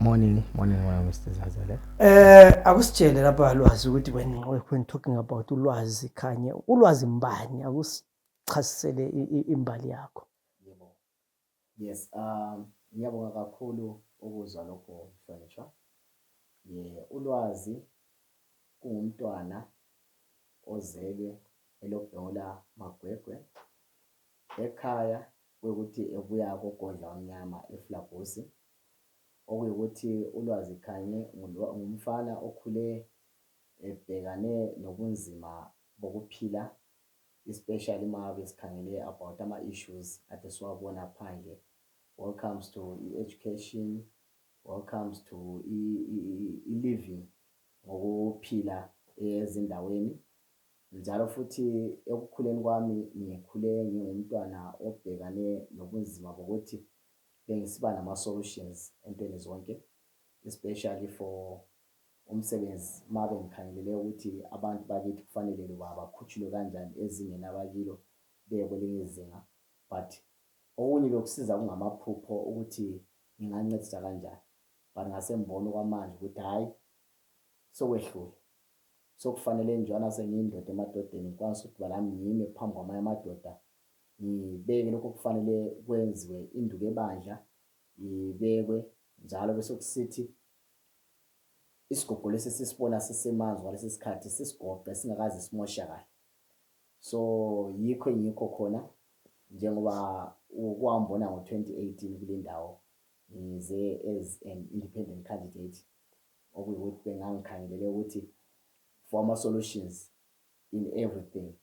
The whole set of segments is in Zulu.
Morning, morning wena Mr Zazele. Eh akusitshele lapha lwazi ukuthi when when talking about ulwazi khanye ulwazi mbani akusichasisele imbali yakho. Yebo. Yes, um ngiyabonga kakhulu ukuzwa lokho mhlonishwa. Ye ulwazi kungumntwana ozelwe elobhola magwegwe Ekhaya kuyikuthi ebuya koGodla Omnyama eFlabusi, okuyikuthi uLwazi Khanyi ngumfana okhule ebhekane nobunzima bokuphila especially uma ngabe sikhangele about ama issues ade siwabona phandle wall comes to i education, wall comes to i living ngokuphila ezindaweni. Njalo futhi ekukhuleni kwami ngikhule ngingumntwana obhekane nobunzima bokuthi bengisiba nama solutions entweni zonke especially for umsebenzi mabe ngikhangelele ukuthi abantu bakithi kufanele loba bakhutshulwe kanjani ezingeni abakilo beye kwelinye izinga but okunye bekusiza kungamaphupho ukuthi ngingancedisa kanjani but ngasembona okwamanje ukuthi hhayi sokwehlule Sekufanele njalo nasengiyindoda emadodeni ngikwanise ukuthi ukuba nami ngime phambi kwamanye amadoda ngibeke lokho okufanele kwenziwe induku ebandla ibekwe njalo bese kusithi isigogo lesi sisibona sisemanzi walesi sikhathi sisigoqe singakaze simoshakale so yikho engikho khona njengoba ukuhambona ngo-2018 kule ndawo ngize as an independent candidate okuyikuthi bengangikhangelele ukuthi for ama solutions in everything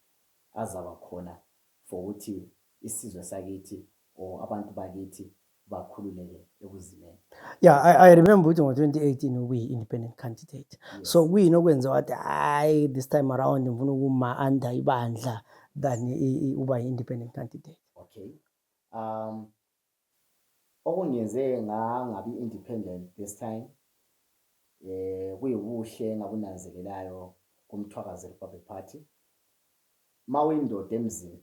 azaba khona for ukuthi isizwe sakithi or abantu bakithi bakhululeke ekuzimeni yeah i, I remember ukuthi ngo-2018 ubuyi-independent candidate yes. so kuyini okwenze wathi hayi this time around ngifuna ukuma-under ibandla than uba yi-independent candidate okay um Okungenze ngangabi independent this time eh kuyibuhle engabunanzelelayo kuMthwakazi Republic Party mawuyindoda emzini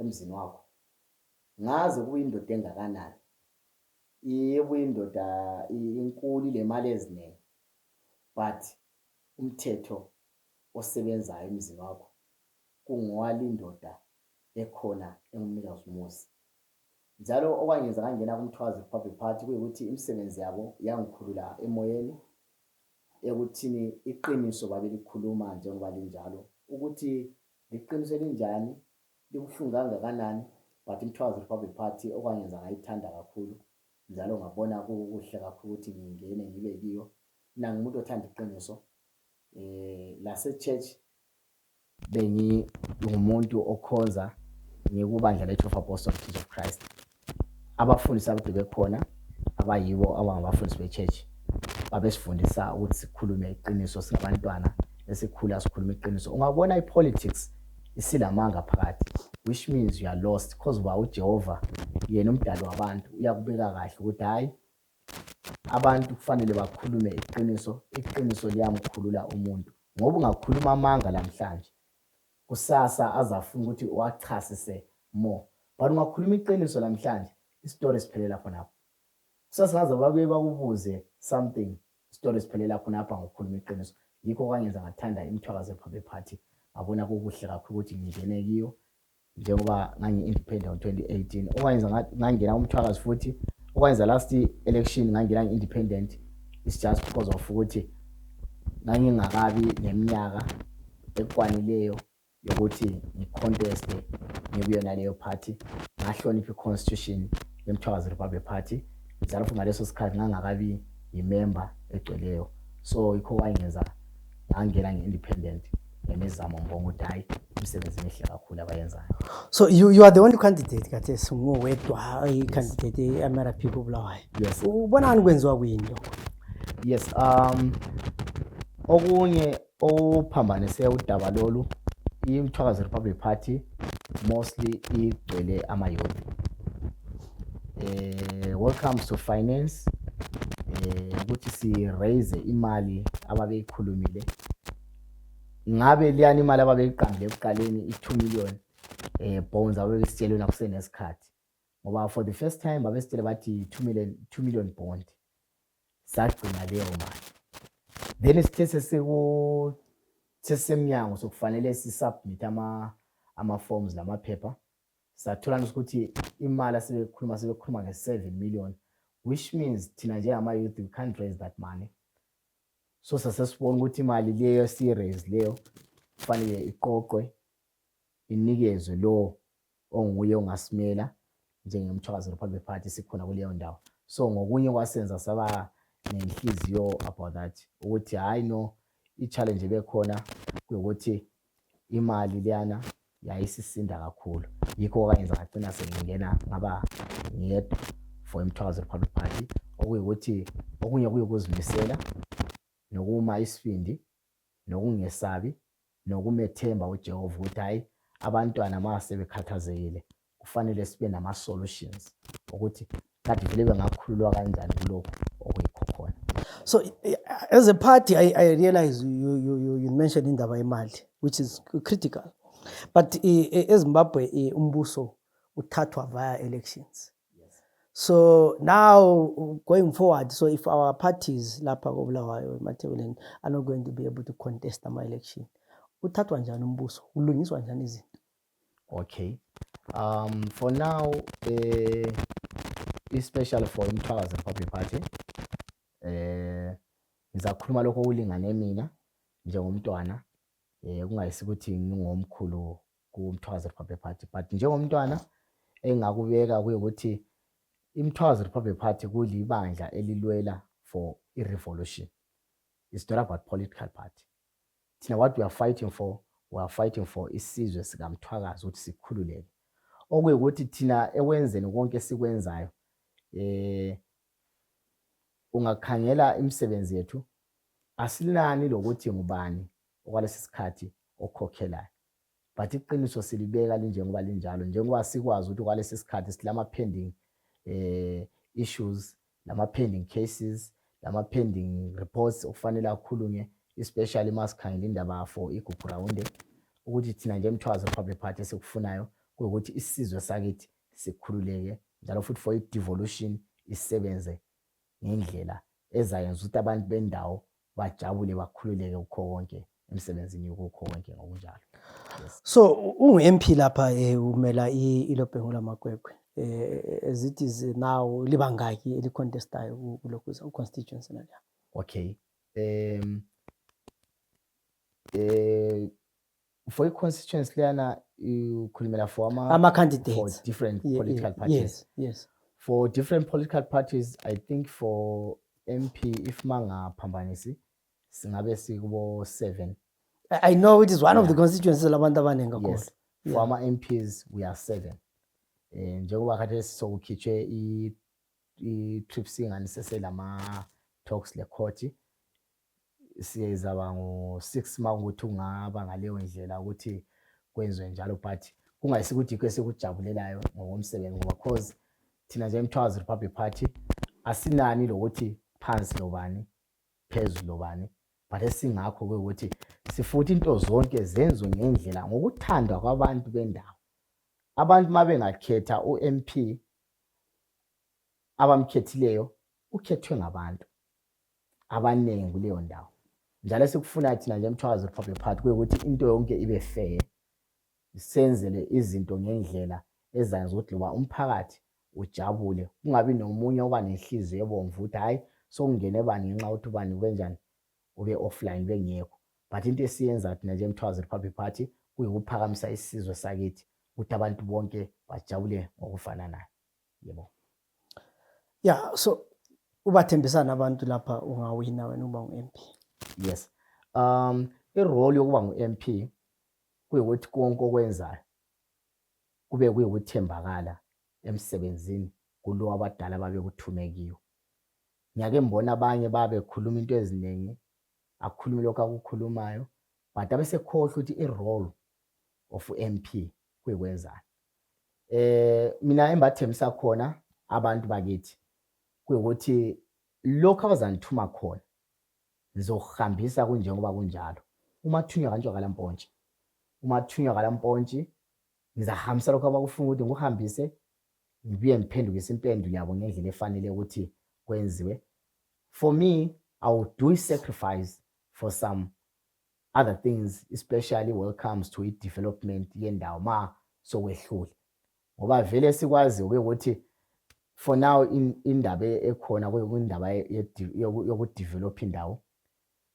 emzini wakho ngaze kuyindoda engakanani ibuyindoda inkulu lemali eziningi but umthetho osebenzayo emzini wakho kungowalindoda ekhona engumnikazi umuzi Njalo okwangenza ngangena kuMthwazi Republic Party kuyikuthi imisebenzi yabo yangikhulula emoyeni ekuthini iqiniso babelikhuluma njengoba linjalo ukuthi liqiniso elinjani libuhlungu kangakanani but iMthwazi Republic Party okwangenza ngayithanda kakhulu njalo ngabona kukuhle kakhulu ukuthi ngingene ngibe kiyo nangimuntu othanda iqiniso eh lase church bengingumuntu okhonza ngikubandla le-12 Apostles Church of Christ. Abafundisi akade bekhona abayibo abangabafundisi be-church babesifundisa ukuthi sikhulume iqiniso singabantwana esikhula sikhuluma iqiniso. Ungabona i-politics isilamanga phakathi which means you are lost because uba uJehova yena umdali wabantu uyakubeka kahle ukuthi hhayi Abantu kufanele bakhulume iqiniso, iqiniso liyamkhulula umuntu. Ngoba ungakhuluma amanga namhlanje, kusasa azafuna ukuthi uwachasise more. But ungakhuluma iqiniso namhlanje, istory siphelela khonapho. Kusasa ngaze babuye bakubuze something, istory siphelela khonapha ngokukhuluma iqiniso. Yikho okwangenza ngathanda imithwakazo ephaphe party, ngabona kukuhle kakhulu ukuthi ngingene kiyo. njengoba ngangi-independent ngo-2018 okwayenza ngangena umthwakazi futhi okwayenza last election ngangena ngi-independent it's just because of ukuthi ngangingakabi neminyaka ekwanileyo yokuthi ngiconteste ngikuyona leyo party ngahlonipha i-constitution yemthwakazi republic party ngizala futhi ngaleso sikhathi ngangakabi yimemba egcweleyo so yikho kwangenza ngangena nge-independent nemizamo ngibonga ukuthi hhayi imisebenzi emihle kakhulu abayenzayo so you, you are the only candidate kathesi ngowedwa i-candidate e-mrp kobulawayo yes ubonani kwenziwa kwini lokho yes um okunye ophambanise udaba lolu imthwakazi republic party mostly igcwele amayouth eh welcome to finance eh ukuthi si raise imali ababeyikhulumile ngabe liyani imali ababeyiqambile ekuqaleni i2 million eh bonds ababesitshelwe nakusenesikhathi ngoba for the first time babesitshele bathi 2 million 2 million bond sagcina leyo mali then sithe sesiku sesemnyango sokufanele sisubmit ama ama forms lamaphepha Sathola nje ukuthi imali asebekhuluma sebekhuluma nge-7 million which means thina njengama-youth we can't raise that money. So sasesibona ukuthi imali leyo esiyiraise leyo kufanele iqoqwe inikezwe lowo onguye ongasimela njengemthwakazi Republic Party sikhona kuleyo ndawo. So ngokunye kwasenza saba nenhliziyo about that ukuthi hhayi no i-challenge ebekhona kuwukuthi imali leyana yayisisinda kakhulu yikho okwayenza ngagcina sengingena ngaba ngiyedwa for imthwazo republic party okuyikuthi okunye kuyukuzimisela nokuma isibindi nokungesabi nokumethemba ujehova ukuthi hhayi abantwana uma sebekhathazekile kufanele sibe nama solutions ukuthi kanti vele bengakhululwa kanjani kulokhu okuyikho khona so as a party i, I realize you, you, you, you mentioned indaba yemali which is critical but ezimbabwe e, e, umbuso uthathwa via elections so now going forward so if our parties lapha kobulawayo emathebeleni are not going to be able to contest ama-election uthathwa njani umbuso kulungiswa njani izinto Okay. Um, for now, uh, it's special for Mthwakazi Republic Party. Eh, ngizakhuluma lokho okulingane mina njengomntwana. Eh, kungayisi ukuthi ngingomkhulu kuMthwakazi Republic Party, but njengomntwana engakubeka kuye ukuthi iMthwakazi Republic Party kulibandla elilwela for i-revolution. It's not about political party. Thina what we are fighting for, we are fighting for isizwe sikaMthwakazi ukuthi sikhululeke. Okuyukuthi thina ekwenzeni konke esikwenzayo eh ungakhangela imisebenzi yethu asilani lokuthi ngubani okwalesi sikhathi okhokhelayo. but iqiniso silibeka linjengoba linjalo njengoba sikwazi ukuthi kwalesi sikhathi silama pending eh issues lama pending cases lama pending reports okufanele akhulunywe especially masikhangela indaba for iguphu round ukuthi thina nje emthwazi republic party sikufunayo ukuthi isizwe sakithi sikhululeke njalo futhi for i-devolution isebenze ngendlela ezayenza ukuthi abantu bendawo bajabule bakhululeke kukho konke emsebenzini kukho konke ngokunjalo so ungu-mp lapha um umela ilobhengu lamakwekwe um eh, as it is now libangaki elicontestayo kulokhu uconstituency nalya okay um um for i-constituency leyana ukhulumela for ama ama candidates for different yeah, political yeah, parties yes yes for different political parties i think for mp if mangaphambanisi singabe sikubo 7 i know it is one yeah. of the constituencies labantu abaningi kakhulu yes. yeah. for ama mps we are 7 eh njengoba kade sisokukhitshwe i i trip singani seselama talks le court siyezaba ngo-six uma ukuthi ungaba ngaleyo ndlela ukuthi kwenziwe njalo but kungayisi ukuthi yikho esikujabulelayo ngokomsebenzi ngoba cause thina njengomthwazi republic party asinani lokuthi phansi lobani phezulu lobani but esingakho ukuthi sifuthi into zonke zenziwe ngendlela ngokuthandwa kwabantu bendawo abantu uma bengakhetha u-m p abamkhethileyo ukhethwe ngabantu abaningi kuleyo ndawo njalo esikufunayo thina nje emthwakazi republic party kuyukuthi into yonke ibe fair senzele izinto ngendlela ezayenza ukuthi loba umphakathi ujabule kungabi nomunye oba nenhliziyo ebomvu ukuthi hhayi sokungene bani ngenxa yokuthi ubani ubenjani ube offline bengekho but into esiyenza thina nje emthwakazi republic party kuyikuphakamisa isizwe sakithi ukuthi abantu bonke bajabule ngokufananayo yebo ya yeah, so ubathembisana abantu lapha ungawina wena uba ngu-MP yes um irole yokuba ngu-MP kuyukuthi konke okwenzayo kube kuyukuthembakala emsebenzini kulo abadala babekuthume kiyo ngiyake mbona abanye babekhuluma into eziningi akhulume lokho akukhulumayo but abesekhohlwa ukuthi i-role of MP kuyokwenzani eh mina embathembisa khona abantu bakithi kuyokuthi lokho abazanithuma khona ngizohambisa kunjengoba kunjalo uma thunywa kanjwa kalampontshi uma thunywa kalampontshi ngizahambisa lokho abakufuna ukuthi ngikuhambise ngibuye ngiphendukise impendulo yabo ngendlela efanele ukuthi kwenziwe for me i will do sacrifice for some other things especially when it comes to i-development yendawo ma sokwehlule ngoba vele sikwaziyo ke ukuthi for now indaba e-, ekhona kwindaba yokudevelop indawo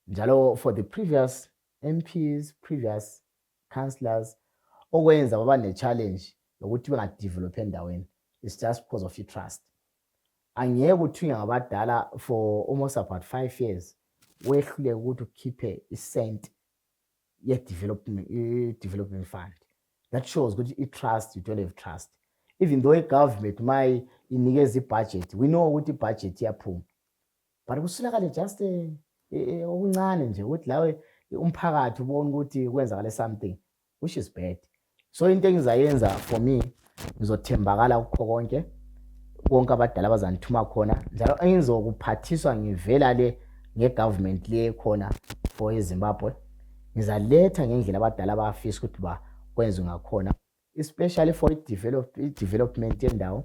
njalo for the previous MPs previous councillors okwenza baba ne-challenge yokuthi bengadevelop endaweni it's just because of i-trust Angeke uthunywe ngabadala for almost about five years wehluleke ukuthi ukhiphe i-cent ye-development fund. That shows ukuthi i-trust, you don't have trust. Even though i-government mayi inikeza i-budget, we know ukuthi i-budget iyaphuma. But kusulakale just eh, eh, eh, okuncane nje ukuthi lawe umphakathi ubona ukuthi kwenzakale something which is bad so into engizayenza for me ngizothembakala kukho konke konke abadala bazangithuma khona njalo engizokuphathiswa ngivela le ngegovernment le khona for ezimbabwe ngizaletha ngendlela abadala abafisa ukuthi ba kwenze ngakhona especially for i-development yendawo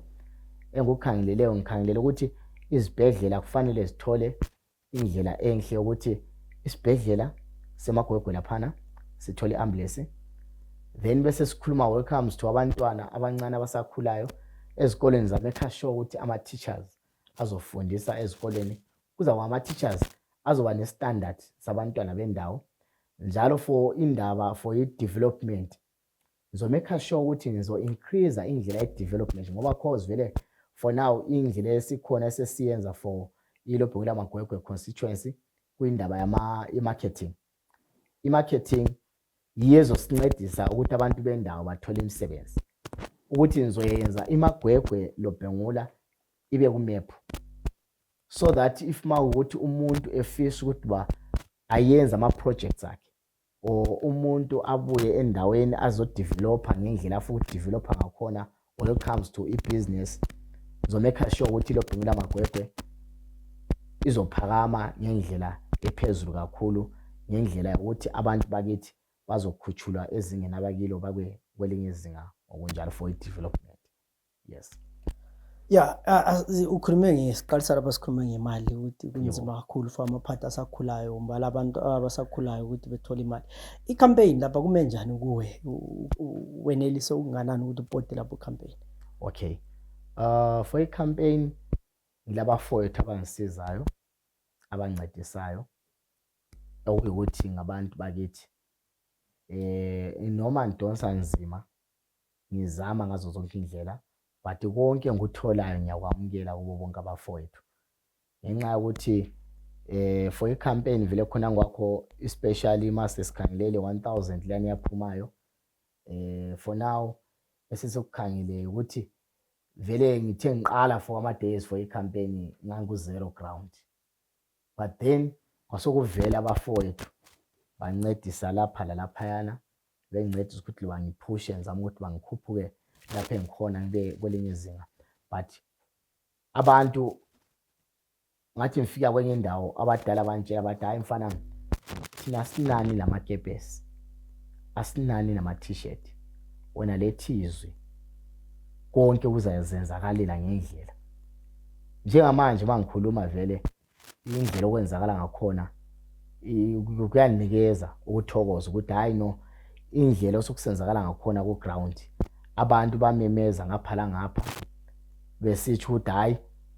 engikukhangeleleyo ngikhangelele ukuthi izibhedlela kufanele zithole indlela enhle ukuthi isibhedlela semagwegwe laphana sithole ambulance then bese sikhuluma welcomes to abantwana abancane abasakhulayo ezikoleni zamekha sure ukuthi ama-teachers azofundisa ezikoleni kuza kwa ama-teachers azoba ne-standard sabantwana bendawo njalo for indaba for i-development ngizomekha sure ukuthi ngizo increase indlela ye development ngoba cause vele for now indlela esikhona esesiyenza for ilobhungu lamagwegwe constituency kwindaba yama marketing i marketing yiyezo sincedisa ukuthi abantu bendawo bathole imisebenzi ukuthi ngizoyenza imagwegwe lobhengula ibe kumephu so that if mawukuthi umuntu efisa ukuthi ba ayenze ama projects akhe or umuntu abuye endaweni azodevelopha ngendlela afuna ukudevelopha ngakhona when it comes to i-business zomekha sure ukuthi lobhungula magwegwe izophakama ngendlela ephezulu kakhulu ngendlela yokuthi abantu bakithi bazokhutshulwa ezingeni abakilo bakwe kwelinye izinga ngokunjalo for i-development yes ya ukhulume ngesiqalisa lapha sikhulume ngemali ukuthi kunzima kakhulu for amaphathi asakhulayo mbala abantu abasakhulayo ukuthi bethole imali i-campaign lapha kume njani kuwe wenelise ukunganani ukuthi upote lapho campaign okay uh for i-campaign ngilabafowethu abangisizayo abancedisayo okuyukuthi ngabantu bakithi eh noma ngidonsa nzima ngizama ngazo zonke indlela but konke ngikutholayo ngiyakwamukela kubo bonke abafowethu ngenxa yokuthi eh for icampaign vele khona ngwakho especially master sikhangelele 1000 lani yaphumayo eh for now esisokukhangeleke ukuthi vele ngithe ngiqala for ama days for icampaign ngangu zero ground but then kwasokuvela abafowethu bancedisa lapha lalaphayana bengincedisa ukuthi bangiphushe ngizama ukuthi bangikhuphuke lapho engikhona ngibe kwelinye izinga but abantu ngathi ngifika kwenye indawo abadala bantshela bathi hhayi mfana thina sinani namakepesi asinani nama-t-shirt wena lethizwe konke kuzazenzakalela ngendlela njengamanje uma ngikhuluma vele indlela okwenzakala ngakhona kuyanikeza ukuthokoza ukuthi hhayi no indlela osukusenzakala ngakhona ku-ground abantu bamemeza ngapha langapha besitsho ukuthi hhayi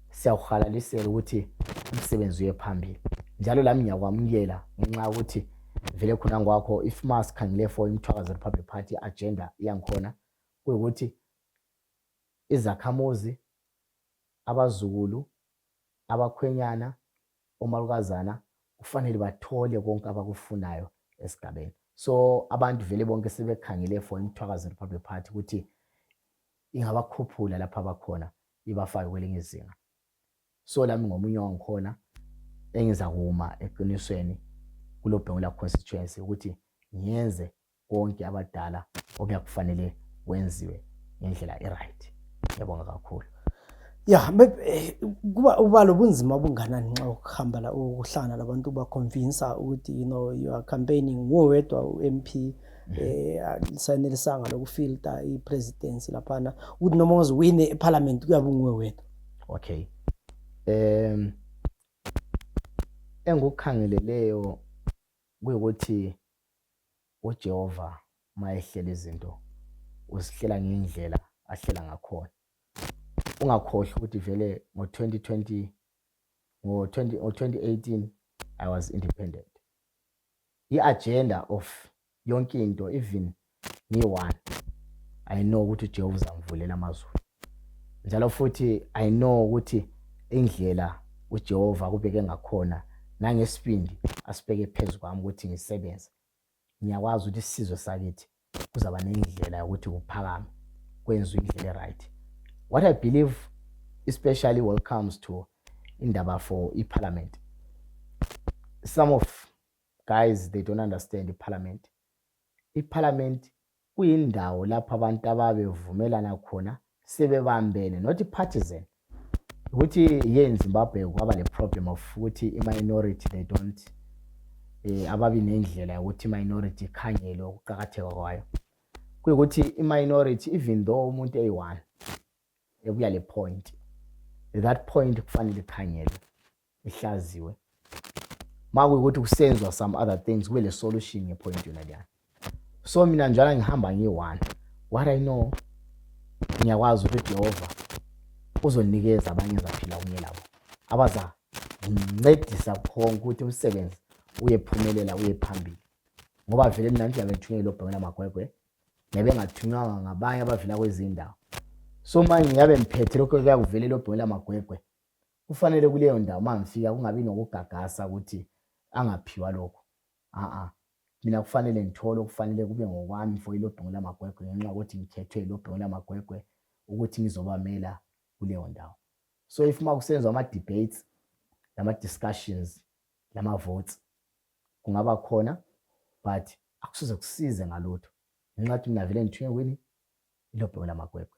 siyakuhalalisela ukuthi umsebenzi uye phambili njalo lami ngiyakwamukela ngenxa yokuthi vele khona ngwakho if ma sikhangele for imthwakazi republic party agenda iyangikhona kuyukuthi izakhamuzi abazukulu, abakhwenyana, omalukazana kufanele bathole konke abakufunayo esigabeni. So abantu vele bonke sebekhangele for iMthwakazi Republic Party ukuthi ingabakhuphula lapha abakhona ibafake kwelinye izinga. So lami ngomunye wangikhona engiza kuma eqinisweni kulobhengula constituency ukuthi ngiyenze konke abadala okuyakufanele wenziwe ngendlela e-right yabonga kakhulu ya eh, kuba uba lobunzima obunganani nxa ukuhamba la ukuhlangana labantu ubaconvinsa ukuthi you know you are campaigning nguwe wedwa u-m p mhm. eh sanelisanga lokufilta i-presidency laphana ukuthi noma uziwine ephalamenti kuyabe unguwe wedwa okay um engikukhangeleleyo kuyukuthi UJehova uma ehlela izinto uzihlela ngendlela ahlela ngakhona. Ungakhohlwa ukuthi vele ngo-2020 ngo-2018 I was independent. I-agenda of yonke into even ngiyi-one I know ukuthi uJehova uzangivulela amazulu. njalo futhi i know ukuthi indlela uJehova kubeke ngakhona nangesibindi asibeke phezu kwami ukuthi ngisebenze ngiyakwazi ukuthi isizwe sakithi kuzaba nendlela yokuthi kuphakame kwenziwe indlela e-right what i believe especially when it comes to indaba for iparliament some of guys they don't understand iparliament iparliament kuyindawo lapho abantu ababevumelana khona sebebambene not partisan ukuthi ye in Zimbabwe kwaba le problem of ukuthi i minority they don't eh ababi nendlela yokuthi minority ikhangelwe ukuqhakatheka kwayo kuyikuthi i minority even though umuntu eyi1 ebuya le point that point kufanele ikhangelwe ihlaziwe makuyukuthi kusenzwa some other things kube le solution ngepoint yona leyana so mina njalo ngihamba ngiyi-one what i know ngiyakwazi ukuthi jehova uzonikeza abanye ezaphila kunye labo abaza ngincedisa khonke ukuthi umsebenzi uyephumelela uye phambili ngoba vele mina ngiyabe ngithunyelwe lobhekela amagwegwe ngiyabe ngathunywanga ngabanye abavela kwezinye indawo so manje ngiyabe ngiphethe lokho kuyakuvelela obhekela amagwegwe Kufanele kuleyo ndawo uma ngifika kungabi nokugagasa ukuthi angaphiwa lokhu. A-a. Mina kufanele ngithole okufanele kube ngokwami for iLobhungu Lamagwegwe ngenxa yokuthi ngikhethwe iLobhungu Lamagwegwe ukuthi ngizobamela kuleyo ndawo. So if uma kusenziwa ama-debates, lama-discussions, lama-votes, kungaba khona but akusoze kusize ngalutho ngenxa yokuthi mina vele ngithunywe kwini iLobhungu Lamagwegwe.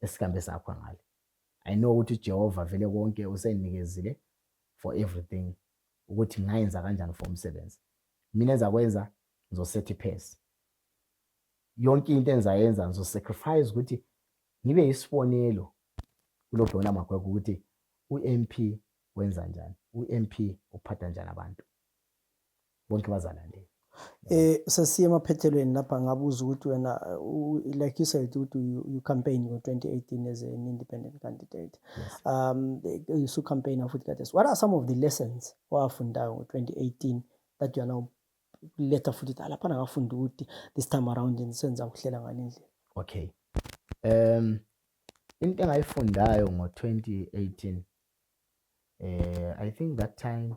esikambe sakho ngale i know ukuthi uJehova vele konke usenikezile for everything ukuthi ngayenza kanjani for umsebenzi mina ezakwenza ngizosetha iphesi yonke into engizayenza ngizosacrifice ukuthi ngibe yisibonelo kulobhona magwegwe ukuthi u-mp wenza njani u-mp uphatha njani abantu bonke bazalandela Eh sesiye emaphethelweni lapha ngabuza ukuthi wena like you said ukuthi you campaign ngo2018 as an independent candidate. Yes. Um usu campaign futhi kade. What are some of the lessons owafunda ngo2018 that you are now later futhi ukuthi lapha ngafunda ukuthi this time around senza ukuhlela ngale ndlela. Okay. Um into engayifundayo ngo2018 eh I think that time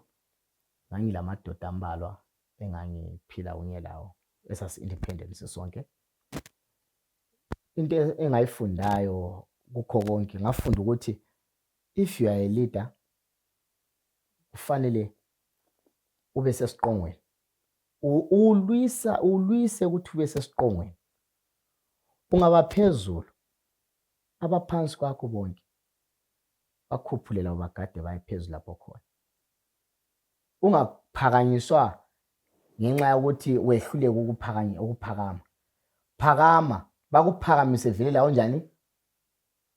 Ngangilamadoda ambalwa engangiphila kunye lawo esasi independent sisonke. Into engayifundayo kukho konke ngafunda ukuthi if you are a leader kufanele ube sesiqongweni ulwisa ulwise ukuthi ube sesiqongweni ungaba phezulu abaphansi kwakho bonke bakhuphulela ubagade baye phezulu lapho khona Ungaphakanyiswa ngenxa yokuthi wehluleke ukuphakanya ukuphakama. Phakama, bakuphakamise vele la onjani?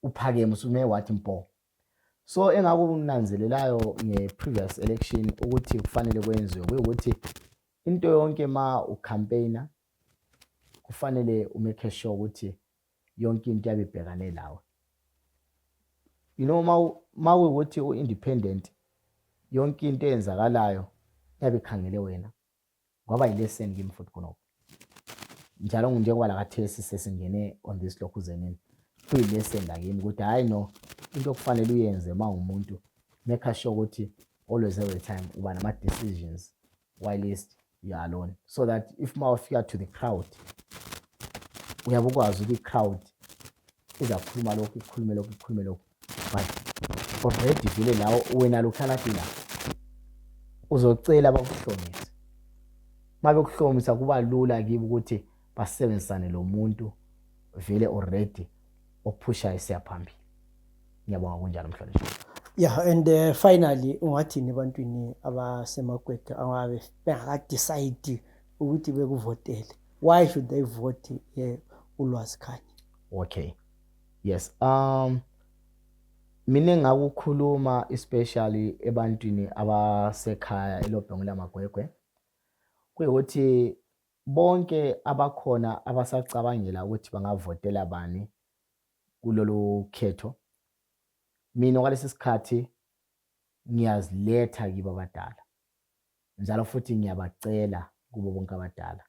Uphakeme usume wathi mpo. So engakunanzelelayo nge-previous election ukuthi kufanele kwenziwe kuyukuthi into yonke ma ucampaigner kufanele umake sure ukuthi yonke into yabe ibhekane lawe you know uma ukuthi u-independent yonke into eyenzakalayo yabe ikhangele wena kwaba yileseni kimi futhi khonokho njalo njengoba lakathesi sesingene on this lokhu zenini kuyileseni lakimi ukuthi hhayi no into okufanele uyenze uma ungumuntu make sure ukuthi always every time uba nama-decisions whilst you're alone so that if uma ufika to the crowd uyabe ukwazi ukuthi i-crowd izakhuluma lokhu ikhulume lokhu ikhulume lokhu but already vele lawo wena lokhalati la uzocela bakuhlomisa uma bekuhlomisa kuba lula kibo ukuthi basebenzisane lo muntu vele already ophushayo siyaphambili ngiyabonga kunjalo mhlonishwa yeah and uh, finally ungathini ebantwini abasemagwega ababe bengakadecide ukuthi bekuvotele why should they vote ye ulwazi khanye okay yes um mina ngakukhuluma especially ebantwini abasekhaya elobhengu lamagwegwe kuyikuthi bonke abakhona abasacabangela ukuthi bangavotela bani kulolu khetho. Mina okwalesi sikhathi ngiyaziletha kibo abadala, njalo futhi ngiyabacela kubo bonke abadala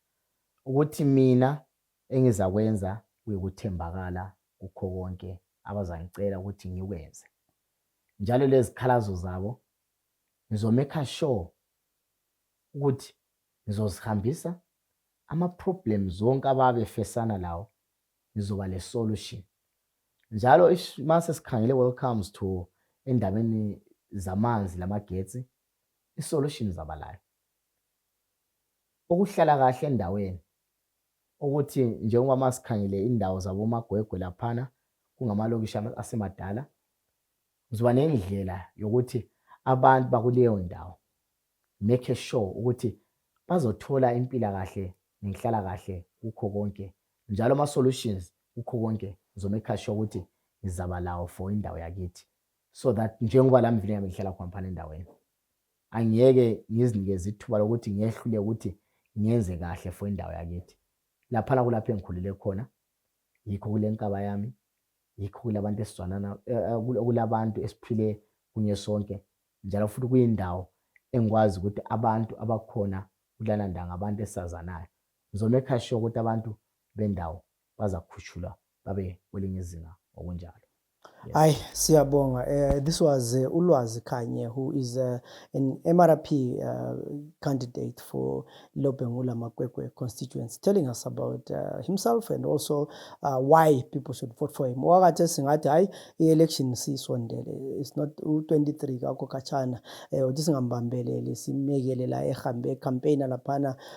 ukuthi mina engizakwenza kuyikuthembakala kukho konke abazangicela ukuthi ngikwenze. Njalo lezikhalazo zabo ngizomekha sure ukuthi ngizozihambisa ama-problems wonke ababefesana lawo nizoba le solution. Njalo ish mase sikhangele when comes to endabeni zamanzi lamagetsi i solution zabalayo. Ukuhlala kahle endaweni ukuthi njengoba masikhangele indawo zabo magwegwe laphana kungamalokishi asemadala uzoba nendlela yokuthi abantu bakuleyo ndawo make sure ukuthi bazothola impila kahle nenhlala kahle kukho konke Njalo ama solutions kukho konke ngizo maker sure ukuthi ngizaba lawo for indawo yakithi so that njengoba la mvila yami ngihlala khona phana endaweni angiyeke ngizinikeze ithuba lokuthi ngehlule ukuthi ngenze kahle for indawo yakithi laphana kulapho engikhulele khona yikho kule nkaba yami yikho kulabantu esizwanana eh, eh, kulabantu esiphile kunye sonke njalo futhi kuyindawo engikwazi ukuthi abantu abakhona kulana ndanga abantu esazanayo Ngizomekha sure ukuthi abantu bendawo bazakhushulwa babe kwelinye izinga ngokunjalo. Yes. Ay siyabonga uh, this was uh, Ulwazi Khanye who is uh, an MRP uh, candidate for Lobengula Makwekwe constituency telling us about uh, himself and also uh, why people should vote for him. Wakathe singathi hayi i-election sisondele it's not u-23 kakho khatshana eh uthi singambambelele simekele la ehambe campaign laphana